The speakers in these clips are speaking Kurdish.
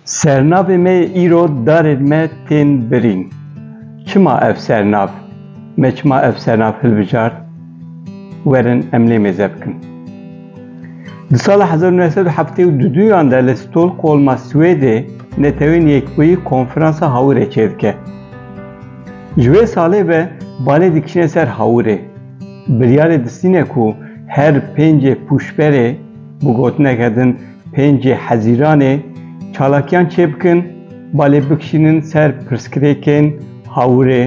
Sernavê me yê îro darên me tên birîn. Çima ev sernav? Me çima ev sernav hilbijart? Werin em lê mêze bikin. Di sala 1972 duyan de li Stolkolma Swêdê Netewên Yekbûyî konferansa hawirê çêdike. Ji wê salê ve balê dikişine ser hawirê. Biryarê distîne ku her pêncê pûşberê bi gotineke din pêncê hezîranê çalakiyan çêbikin, balê bikişînin ser pirsgirêkên hawirê,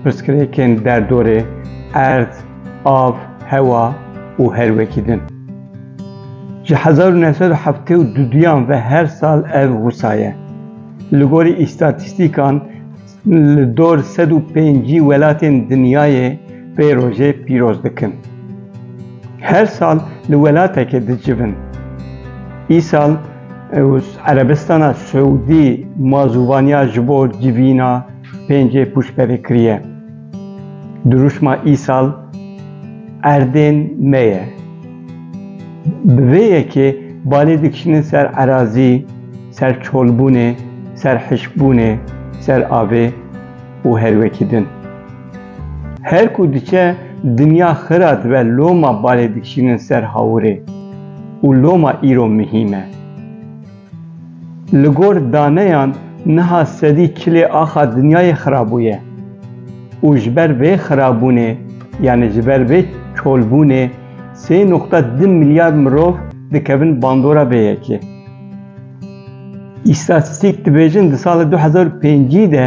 pirsgirêkên derdorê, erd, av, hewa û her wekî din. Ji hezar û neh sed û heftê û du duyan ve her sal ev wisa ye. Li gorî îstatîstîkan Li dor sed û pêncî welatên dinyayê vê rojê pîroz dikin. Her sal li welatekê dicivin. Îsal Erebistana Siûdî mazûvaniya ji bo civîna pêncê pûşberê kiriye. Dirûşma îsal erdên me ye. Bi vê yekê balê dikişînin ser erazî, Ser çolbûnê, ser hişkbûnê, ser avê û her wekî din. Her ku diçe dinya xira dibe loma balê dikişînin ser hawirê û loma îro mihîm e. Li gor daneyan niha sedî çilê axa dinyayê xirabûye û ji ber vê xirabûnê yanî ji ber vê çolbûnê sê noqta du milyar mirov dikevin bandora vê yekê. Îstatîstîk dibêjin di sala du hezar û pêncî de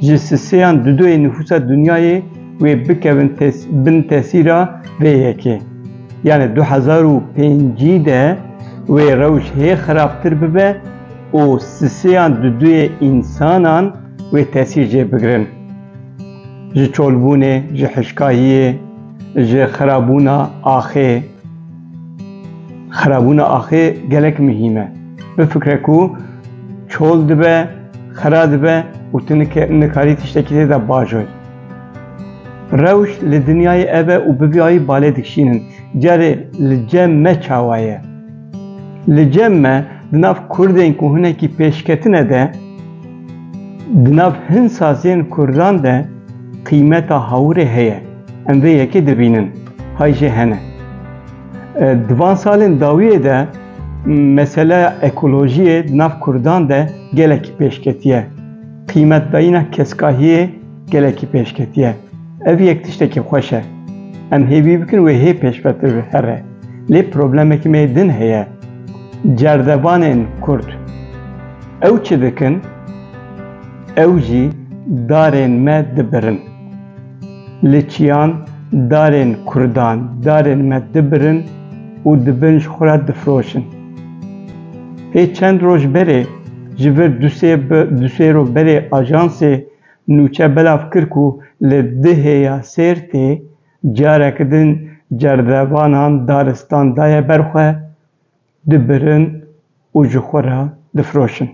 ji si sêyan di duyê nifûsa dinyayê wê bikevin bin tesîra vê yekê. Yanê du hezar û pêncî de wê rewş hê xirabtir bibe û si sêyan di duyê însanan wê tesîr jê bigirin. Ji çolbûnê, ji hişkahiyê, ji xirabûna axê, Xirabûna axê gelek mihîm e. Bifikre ku çol dibe, xira dibe û tu nikarî tiştekî tê de bajoy. Rewş li dinyayê ev e û bi vî ayî balê dikişînin. Carê li cem me çawa ye? Li cem me di nav Kurdên ku hinekî pêşketine de, di nav hin saziyên Kurdan de qîmeta hawirê heye. Em vê yekê dibînin. Hay jê hene. Di van salên dawiyê de meseleya ekolojiyê di nav Kurdan de gelekî pêşketiye. Qîmetdayîna keskahiyê gelekî pêşketiye. Ev yek tiştekî xweş e. Em hêvî bikin wê hê pêşvetir bi here. Lê problemekî me din heye. Cerdevanên Kurd ew çi dikin? Ew jî darên me dibirin. Li çiyan darên kurdan, darên me dibirin û di bin ji xwe re difiroşin. Hê çend roj berê ji vir du sê roj berê ajansê nûçe belav kir ku li Dihê ya Sêrtê careke din cerdevanan daristan daye ber xwe dibirin û ji xwe re difiroşin.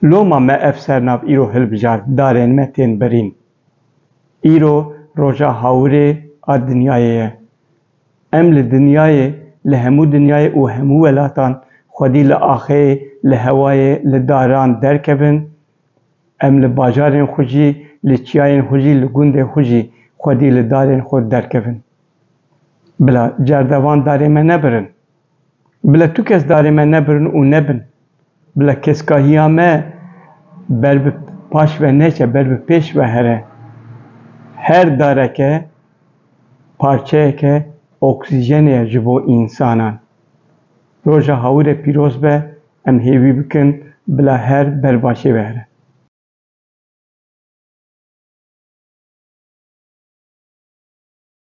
Loma me ev sernav îro hilbijart, darên me tên birîn. Îro roja hawirê a dinyayê ye. Em li dinyayê, li hemû dinyayê û hemû welatan xwedî li axeyê, li hewayê, li daran derkevin, em li bajarên xwe jî, li çiyayên xwe jî, li gundên xwe jî xwedî li darên xwe derkevin. Bila cerdevan darê me nebirin. Bila tu kes darê me nebirin û nebin. Bila keskahiya me ber bi paş ve neçe, ber bi pêş ve here. Her dareke parçeyeke oksîjenê ye ji bo însanan. Roja Hawirê pîroz be, em hêvî bikin bila her ber başê ve here.